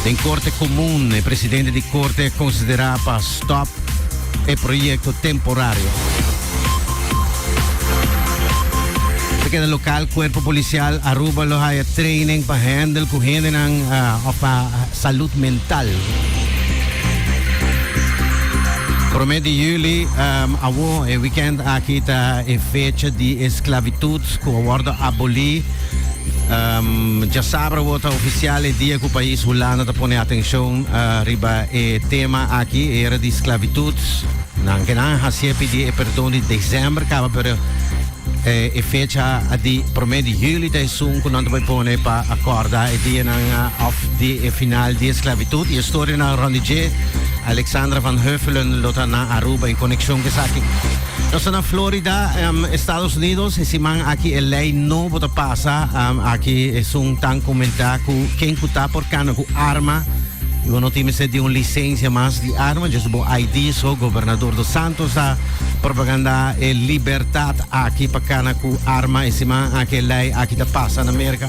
Den Corte Comun e presidente di Corte a considera pa stop e proyecto temporario. Ta keda local Cuerpo Policial Aruba lo haya training pa handle cu hendenan of pa salud mental. Prome di juli, um, awo e weekend aki ta e fecha di esclavitud cu a wordo aboli. Um, ya sabra wota oficial e dia ku país Hulanda ta pone atención uh, riba e tema aki, era di esclavitud. Nan ke nan hasie pidi e perdón di december kaba, pero eh, e fecha di primer di juli ta esun ku nan ta pone pa acorda e dia nan uh, of di e final di esclavitud. Y historia na Ronnie J. Alexandra van Huffelen lo ta na Aruba en conexión ke saki. Nos ta na Florida, Estados Unidos. E siman aki e lei nobo ta pasa. Aki esun tan comenta cu ken cu ta por cana cu arma y bo no tin mester di un licencia mas di arma, just bo ID so. Gobernador dos Santos ta propaganda e libertad aki pa cana cu arma. E siman aki e lei aki ta pasa na Merca.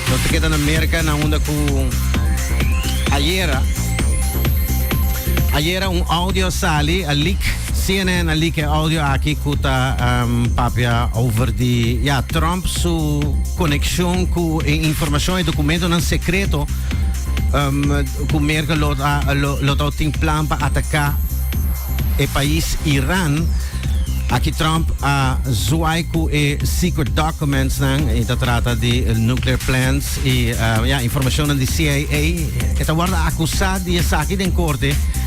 Nos ta keda na Merca na unda cu ayera, ayera un audio a sali, a leak. CNN a leak e audio aki cu ta papia over di ya Trump su coneccion cu e informacion, e documentonan secreto cu Merkel lo ta lo ta tin plan pa ataca e pais Iran. Aki Trump a zwaai cu e secret documentsnan, e ta trata di nuclear plants y ya informacionnan di CIA. E ta wordo acusa di esaki den corte.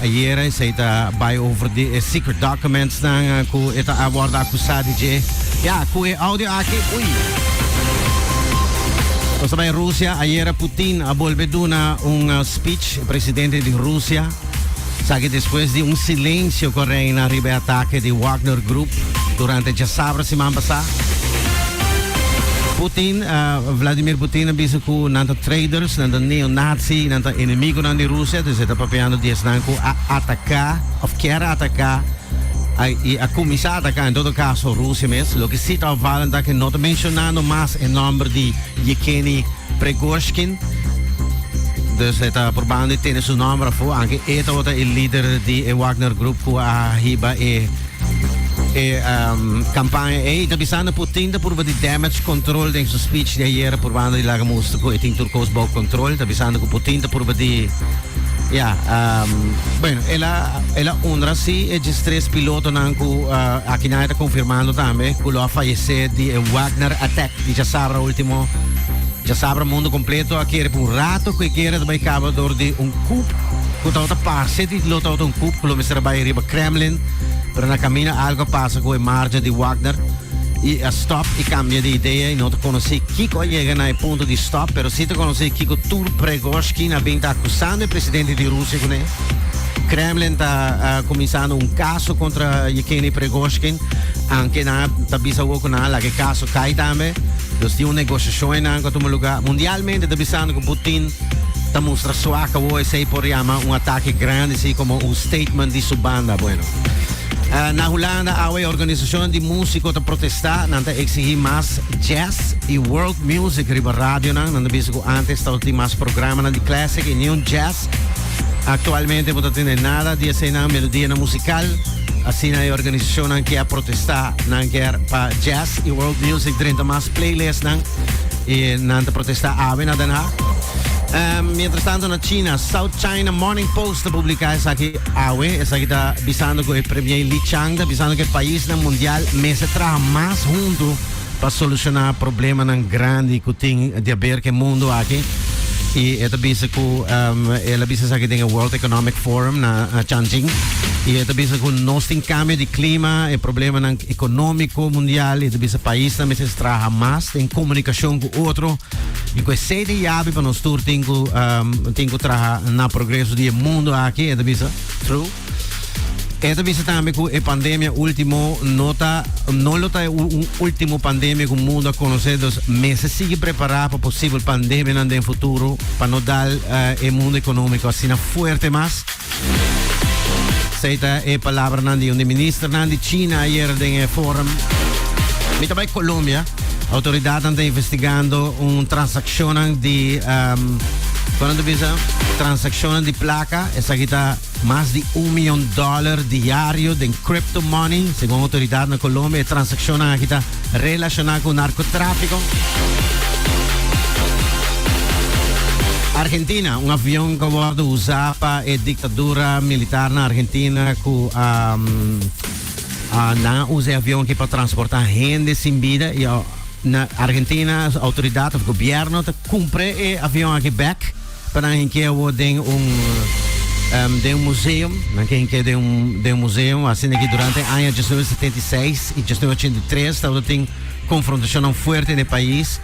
Ayera esei ta bai over di e secret documentsnan cu e ta a wordo acusa di dje. Ya, cu e audio aki, ui! Nos ta bai Rusia. Ayera Putin a bolbe duna un speech, e presidente di Rusia, esaki despues di un silencio cu a reina riba e atake di Wagner Group durante djasabra siman pasá. Putin, Vladimir Putin, a bisa cu nan ta traidors. Nan ta neonazi y nan ta enemigonan di Rusia, dus e ta papiando di esnan cu a ataca of kier ataca y a cuminsa ataca en todo caso Rusia mes. Loke si ta opvalen ta cu no ta menciona no mas e nomber di Yekeni Pregoshkin, dus e ta probando di tene su nomber afu, anke e tabata e lider di e Wagner Group cu a hiba e. E um, campaña ei ta bisando por tinta por de damage control den su speech de ayer por banda de Laga Musto e tin turcos bou control ta bisando que por tinta por de ja um, bueno ela ela honra si e tres piloto nan ku uh, eh, aquí na está confirmando también que lo ha fallecido de Wagner attack de ya sabra último ya sabra mundo completo a quiere por un rato que quiere de cabo door de un coup que tawta pase di lo tawta un coup que lo mesera bij riba Kremlin Pero na camina algo a pasa cu e marcha di Wagner y a stop y cambia di idea y no ta conoci kico a yega na e punto di stop, pero si ta conoci kico tur Pregoshkin a bin ta acusando e presidente di Rusia cu ne. Kremlin ta uh, comenzando un caso contra Yekeni Pregoshkin, aunque na ta bisa cu na la que caso cae también. Dus di un negociación en anco toma lugar mundialmente, ta bisando cu Putin ta mustra su acawo esey por yama un atake grandi si como un statement di su banda bueno. Uh, na Hulanda awe e organisacionnan di musico ta protesta, nan ta exigi mas jazz y world music riba radionan, nan ta bisa cu antes ta tin mas programanan di classic y ni un jazz. Actualmente no ta tiene nada di esey nan melodía na musical, así na e organisacionnan kier protesta, nan kier pa jazz y world music drenta mas playlist nan. y nan ta protesta awe na Den Haag. Um, mientras tanto na China, South China Morning Post ta publica esa aquí awe, esa aquí ta bisando que el premier Li Chang ta bisando que el país na mundial mese traha más junto para solucionar problemas nan grande que ting de haber que mundo aquí. Y esta bisa que um, él bisa esa aquí den el World Economic Forum na uh, Changching. Y esta bisa que nos tin cambio de clima, el problema nan económico mundial, y esta bisa país na mese Traha mas den comunicacion cu otro y cu e siete yabi pa nos tur tin cu tin cu traha na progreso di e mundo aki, e ta bisa. True. E ta bisa tambe cu e pandemia ultimo no ta no lo ta e un ultimo pandemia cu mundo a conoce dus mester sigui prepara pa posibel pandemianan den futuro pa no dal e mundo economico asina fuerte mas. Esei ta e palabranan di un di ministernan di China ayer den e forum. Mi ta bai Colombia. Autoridadnan ta investigando un transakshonnan di um, konan ta bisa? Transakshonnan di plaka. Esaki ta mas di un milyon dòler diario den crypto money, segun autoridad na Colombia. E transakshonnan aki ta Relacioná cu narcotráfico. Argentina, un avion que word usá pa e dictadura militar na Argentina cu a a nan a usa e avion aki pa transportá hende sin bida y na Argentina autoridad of gobierno ta cumpre e avion aki bek. Pa nan hinke awor den un den un museo, nan ke hinke den un den un museo, a sinda ki durante e aña diesnuebe setenta i seis i diesnuebe ochenta i tres tabata tin konfrontashonnan fuerte na e pais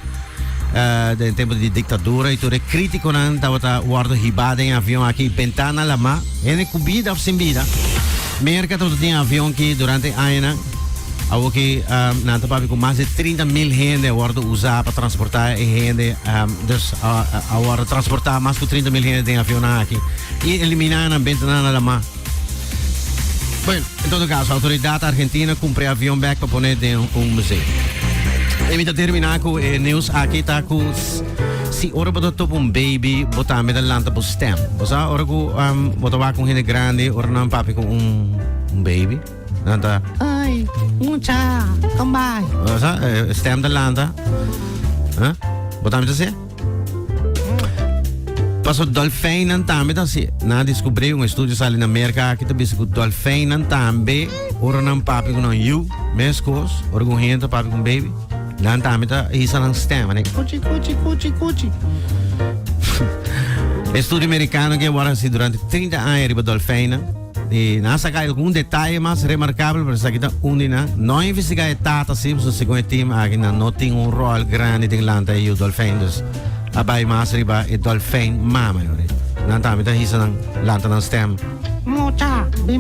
den tempu di diktadura i tur e kritikonan tabata wòrdu hibá den e avion aki Bentana Lamá, hende ku bida òf sin bida. Merka tabata tin e avion ki durante e añanan. Awor ke nan ta papia ku mas de trinta mil hende a wòrdu usá pa transportá e hende. Dus a wòrdu transportá mas ku trinta mil hende den avionnan aki. I eliminá nan bentenan a lamá. Bueno, en todo kaso, outoridat argentina kumpra e avion bèk pa pone den un museo. I mi ta terminá ku e nius aki ta ku si ora bo ta topa un beibi bo tambe ta lanta bo stèm. Bo sa ora ku bo ta wak un hende grandi ora nan papia ku un beibi? Nanta. Ay, mucha, kom bai. Sa, eh, stem de lanta. Huh? Botam te se? Paso dolfijnen tambe dan si na descubrí un estudio sali na Amerika ki ta bisa ku dolfijnen tambe ora nan papi ku nan yu mes kos ora ku gente papi ku baby dan tambe ta hisa nan stem ane kuchi kuchi kuchi kuchi estudio amerikano ke wara si durante 30 aña riba dolfijnen Y nan a saca algun detaye mas remarcable, pero esaki ta un di nan. No a investiga e tata sin, so segun e team aki nan no tin un rol grandi den lanta e yu dolfijn. Dus a bay mas riba e dolfijn mama. Nan tambe ta hisa nan lanta nan stem. Mucha.